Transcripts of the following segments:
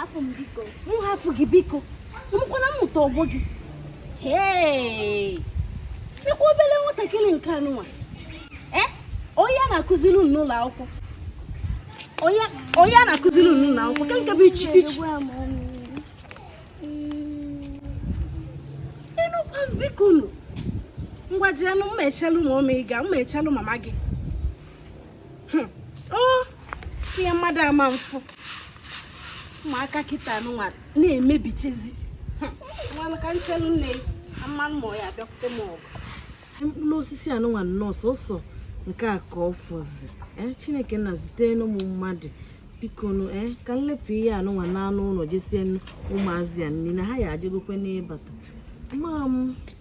afụ m biko m hafụ gị biko mụkwana m mụta ọgbọ gị ịkwa obere nwatakịrị nke anụnwa eh? onye a na-akụziri unu n'ụlọ akwụkwọ onye a na-akụziri unu n'ụlọ akwụkwọ ka nke bụ ichi ichi ịnụkwa m biko nụ ngwa jienụ mma echelụ mama m ị ga mma echelụ mama gị hmm. oh, ihe mmadụ ama mfụ ụmụaka kịta anụnwa na-emebichezi hmm. ngwanụ ka nchelu na mama ya abịakwute m ọgụ mkpụrụ osisi anụnwa nnọọ sọsọ nke a ka ọ fọzi eh, chineke nna zitenụ m mmadụ bikonu ee eh, ka nlepụ ihe anụnwa naanụ ụlọ je sie ụmụazị a nri na ha ya adịgokwe n'ịbata mma m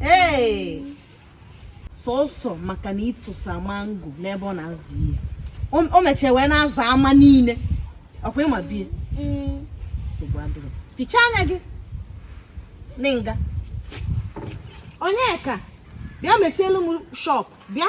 ee sọsọ maka na ị tụsa mango n'ebe ọ na-azụ ihe o mechie wee na-aza ama niile ọkwa ị ma bie nsogbu adịrọ fichaa anya gị n'nga onyeka bịa mechielu m shọp bịa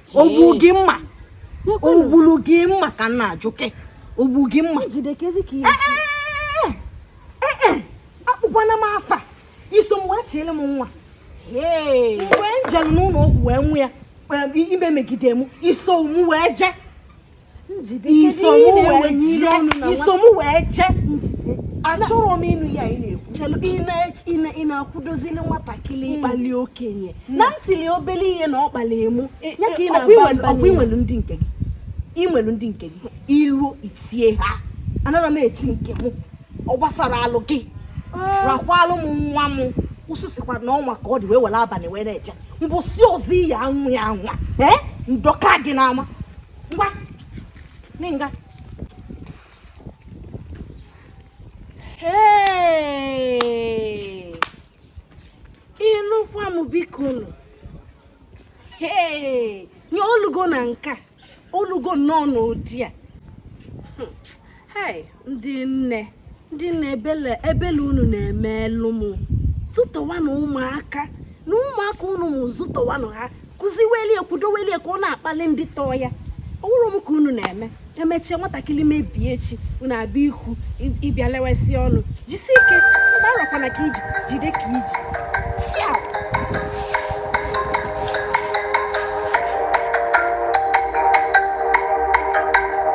o gbulu gị mma o gbulu gị mma ka m na-ajụ ke o gbu gị mma akpọkwana m afa i so m wee chiele m nwa mgbe m jere n'ụlọ ọgwụ wee nwụ ya ime megide m i so m wee jee i so mụ wee je achọrọ m ịnụ ya ị na-ekwu chelu ị na-akwụdozili nwatakịrị hmm. ịkpalị okenye hmm. na ntili obele ihe na ọ kpalịe mụ eh, ya ka ị eh, na-agba ọkwa i nwelu ndị nke gị i nwelu ndị nke gị i ro etie ha anara m eti nke m ọ gbasara alụ gị ah. rakwalụ m nwa m ụsụ sịkwara na ọ ma ka ọ dị wee were abalị wee na-eje mbọsị ọzọ ị ya-anwa ya anwa ee eh? ndọkaa gị n'ama ngwa n'nga ịnụkwa m biko nụ nye o lugo na nka o lugo nnọọ n'ụdị a ndị nne ndị nne ebele ebele unu na-emelu m zụtọwanụ ụmụaka na ụmụaka unu m zụtọwanụ ha kụziwelie kwudowelie ka ọ na-akpalị ndị tọọ ya ọ wụrọ m ka unu na-eme e mechie nwatakịrị mebie echi unu abịa ikwu ịbịa lewesị ọnụ jisi ike mgbọ arakwana ka i ji jide ka i ji